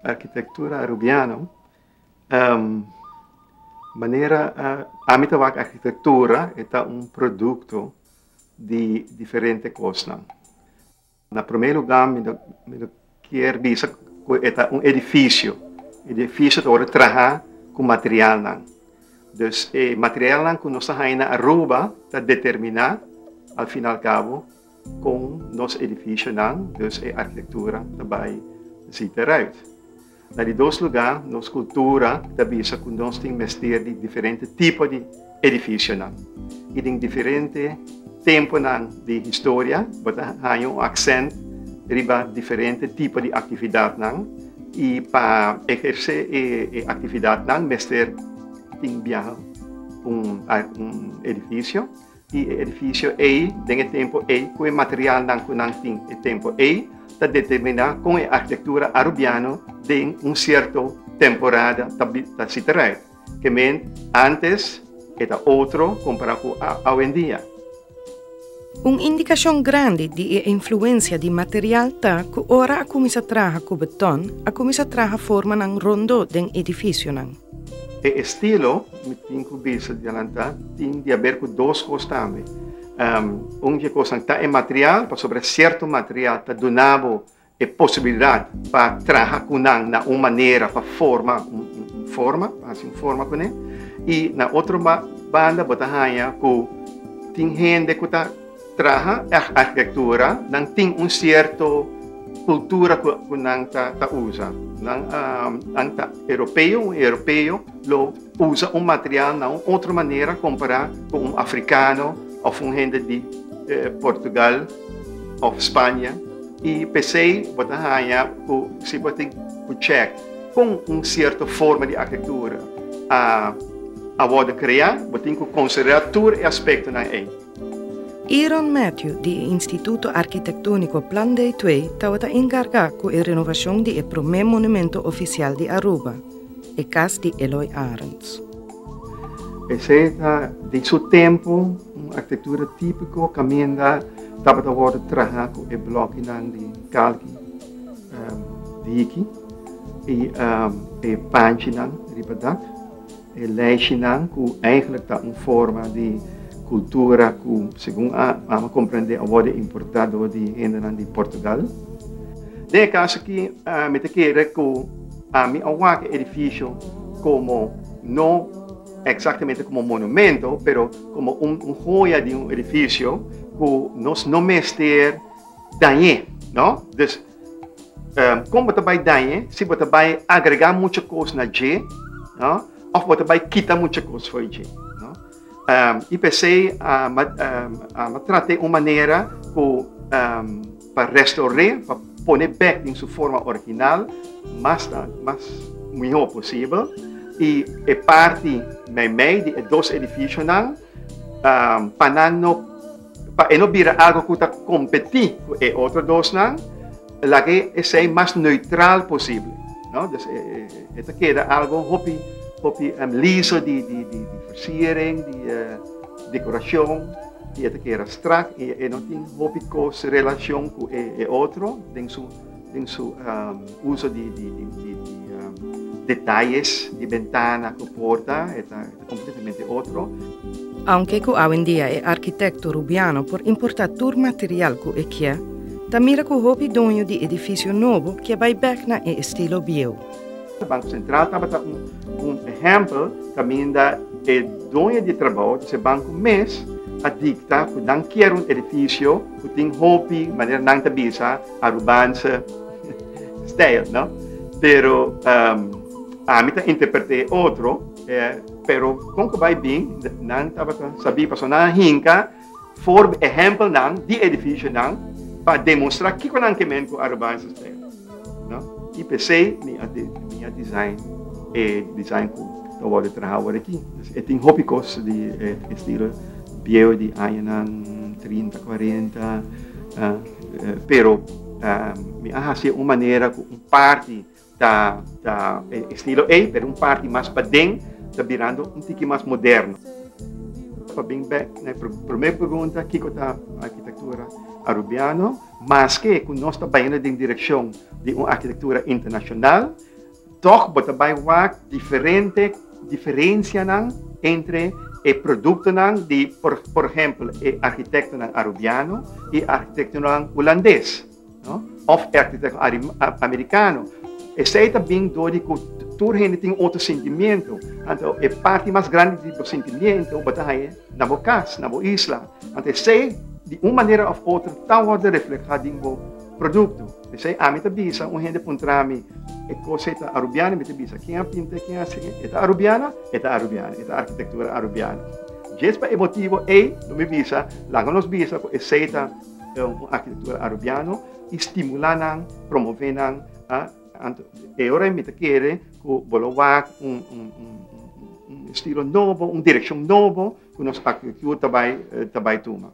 Arkitektura Arubiano, manera ami ta wak arkitektura e ta un produkto di diferente kosnan. Na promé lugá mi ta mi ta kier bisa ku e ta un edifisio, edifisio ta wòrdu trahá ku materialnan. Dus e materialnan ku nos ta haña na Aruba ta determiná alfinalkabo. Kon nos edifishonan, dus e arkitektura, ta bai ziet eruit. Na di dos lugá, nos kultura ta bisa ku nos tin mester di diferente tipo di edifishonan. I den diferente tempunan di historia bo ta haña un aksènt riba diferente tipo di aktividatnan, i pa ehersé e aktividatnan mester tin biaha un edifisio. di e edifisio ei den e tempu ei ku e materialnan ku nan tin e tempu ei ta determiná kon e arkitektura arubiano den un sierto temporada ta ta siti rei. Ke men ántes e ta otro kompará ku awendia. Un indikashon grandi di e influensia di material ta ku ora a kuminsá traha ku betòn, a kuminsá traha formanan rondó den edifisionan. E estilo. Mi tin ku bisa dialanta tin di haber ku dos kos tambe. Un di e kosnan ta e material, pasobra sierto material ta duna bo e posibilidat pa traha ku nan na un manera pa forma un forma, pa hasi un forma kuné. I na otro banda bo ta haña ku tin hende ku ta. Traha ec arquitectura nan tin un cierto cultura cu cu nan ta ta usa. Nan um, nan ta europeo, un europeo lo usa un material na un otro manera compara cu un africano of un hende di eh, Portugal of Spanje. Y pesey bo ta haya cu si bo tin cu check con un cierto forma di arquitectura a a worde crea, bo tin cu considera tur e aspectonan ey. Aaron Matthew di e Instituto Arkitektóniko Plan Day Twe tabata enkargá ku e renovashon di e promé monumentu ofisial di Aruba, e kas di Eloy Arends. P'esei ta den su tempu un arkitektura típiko kaminda tabata wòrdu trahá ku e blòkinan di kalki di hiki i e panchinan riba dak. E leishinan ku eigenlik ta un forma di kultura ku segun Ama komprendé a wòrdu importá dor di hendenan di Portugal. Den e kas aki mi ta kere ku ami a wak e edifisio komo no eksaktamente komo un monumento pero komo un hoya di un edifisio ku nos no mester dañ'é. No? Dus. Ehm, kon bo ta bai dañe si bo ta bai agregá mucha kos na dje, no? Of bo ta bai kita mucha kos for dje, no? Ehm, i pesei a ma ehm, a ma trate un manera ku ehm, pa restauré, pa pone bèk den su forma original mas ta mas mihó posibel. I e parti meimei di e dos edifisio nan ehm, pa nan no Pa e no bira algu ku ta kompetí ku e otro dosnan, laga esei mas neutral posibel. No? Dus e, e, e ta keda algu hopi, hopi um, liso di, di, di, di versiering, di uh, eh, dekorashon, i e ta keda strak, i e no tin hopi kos relashon ku e, e otro den su den su uso di detayes di bentana ku porta e ta kompletamente otro. Aunke ku awendia e arkitekto Rubiano por importá tur material ku e kier, ta mira ku hopi doño di edifisio nobo ke bai bèk na e estilo bieu. Banko Sentral tabata un ehèmpel kaminda e doño di trabou, disé banko mes, a dikta ku nan kier un edifisio ku tin hopi, manera nan ta bisa, Arubanse stijl, no? Pero um, ami ta interpreté otro, eh, pero kon ku bai bin, nan tabata sabi, paso nan hinka for ejempel nan di edificio nan pa demonstra kiko nan ke men ku Arubanse stijl, no? I pc mi a, mi a design, eh, design ku ta worde traha awor aki. Dus e tin hopi kos di eh, estilo bieu di añanan 30, 40, uh, Pero mi a hasié un manera ku un parti ta ta e estilo ei, pero un parti mas paden ta birando un tiki mas moderno. Pa bin bèk na e promé pregunta, kiko ta arkitektura arubiano? Maske ku nos ta bayando den direkshon di un arkitektura internashonal, Tòg bo ta bai wak diferente diferensianan entre e produktonan di por por ehèmpel e arkitektonan Arubiano i e arkitektonan Hulandes òf e arkitektonan Amerikano. Esei ta bin dor di ku tur hende tin otro sentimentu. Anto e parti mas grandi di bo sentimentu bo ta haña na bo kas, na bo isla. Anto esei di un manera òf otro ta wòrdu reflehá den bo produkto. P'esei ami ta bisa un hende puntra mi, E kos ei ta arubiano? Mi ta bisa, Ken a pinta i ken a hasi e? E ta arubiano? E ta arubiano. E ta arkitektura arubiano. Djes pa e motibu ei lo mi bisa, laga nos bisa ku esei ta un arkitektura arubiano i stimulá nan, promové nan. Anto e ora ei mi ta kere ku bo lo wak un estilo nobo, un direkshon nobo ku nos arkitektur ta bai tuma.